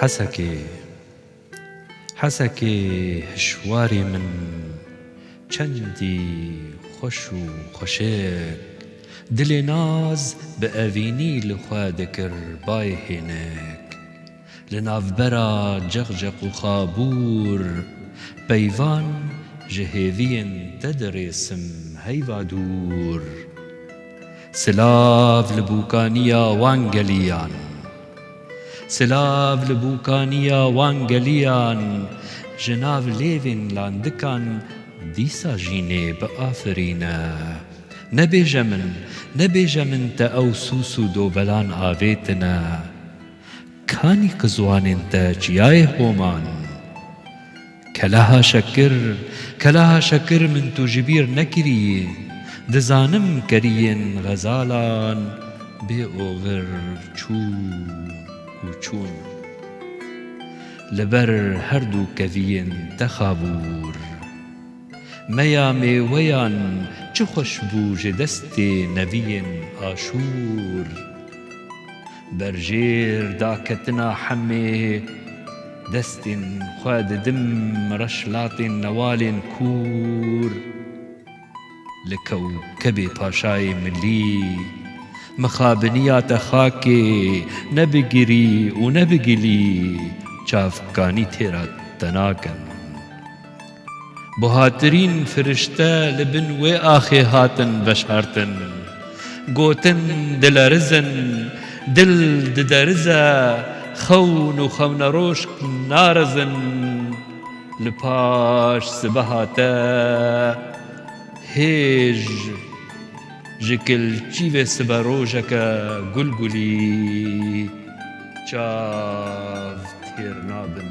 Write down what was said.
Hesekê Hesekê hişwarê min çendî xweş û xweşik Dilê naz bi evînî li xwe dikir bayê hênik. Li navbera ceqceq û xabûr peyvan ji hêviyên te dirêsim heyva dûr. Silav li bûkaniya wan geliyan. Silav li bûkaniya wan geliyan ji nav lêvên landikan dîsa jî nê biafirîne. Nebêje min, nebêje min te ew sûs û dobelan avêtine. Kanî qizwanên te çiyayê Homan. Keleha Şekir, Keleha Şekir min tu ji bîr nekiriyî. Dizanim keriyên xezalan bê oxir çûn û çûn. Li ber her du keviyên te xabûr. Meya mêweyan çi xweş bû ji destê neviyên Aşûr. Berjêr daketina hemê destên xwe didim reşlatên newalên kûr li kewkebê paşayê milî mixabiniyate xakê ne bi girî û ne bi gilî çavkanî têra te nakin. Buhatirîn firişte li bin wê axê hatin veşartin. Gotin dileriz in, dil dideriz e, xewn û xewneroşk nariz in. Li paş sibeha te hêj ji kilçîvê siberojeke gul gulî. Çav têr nabin.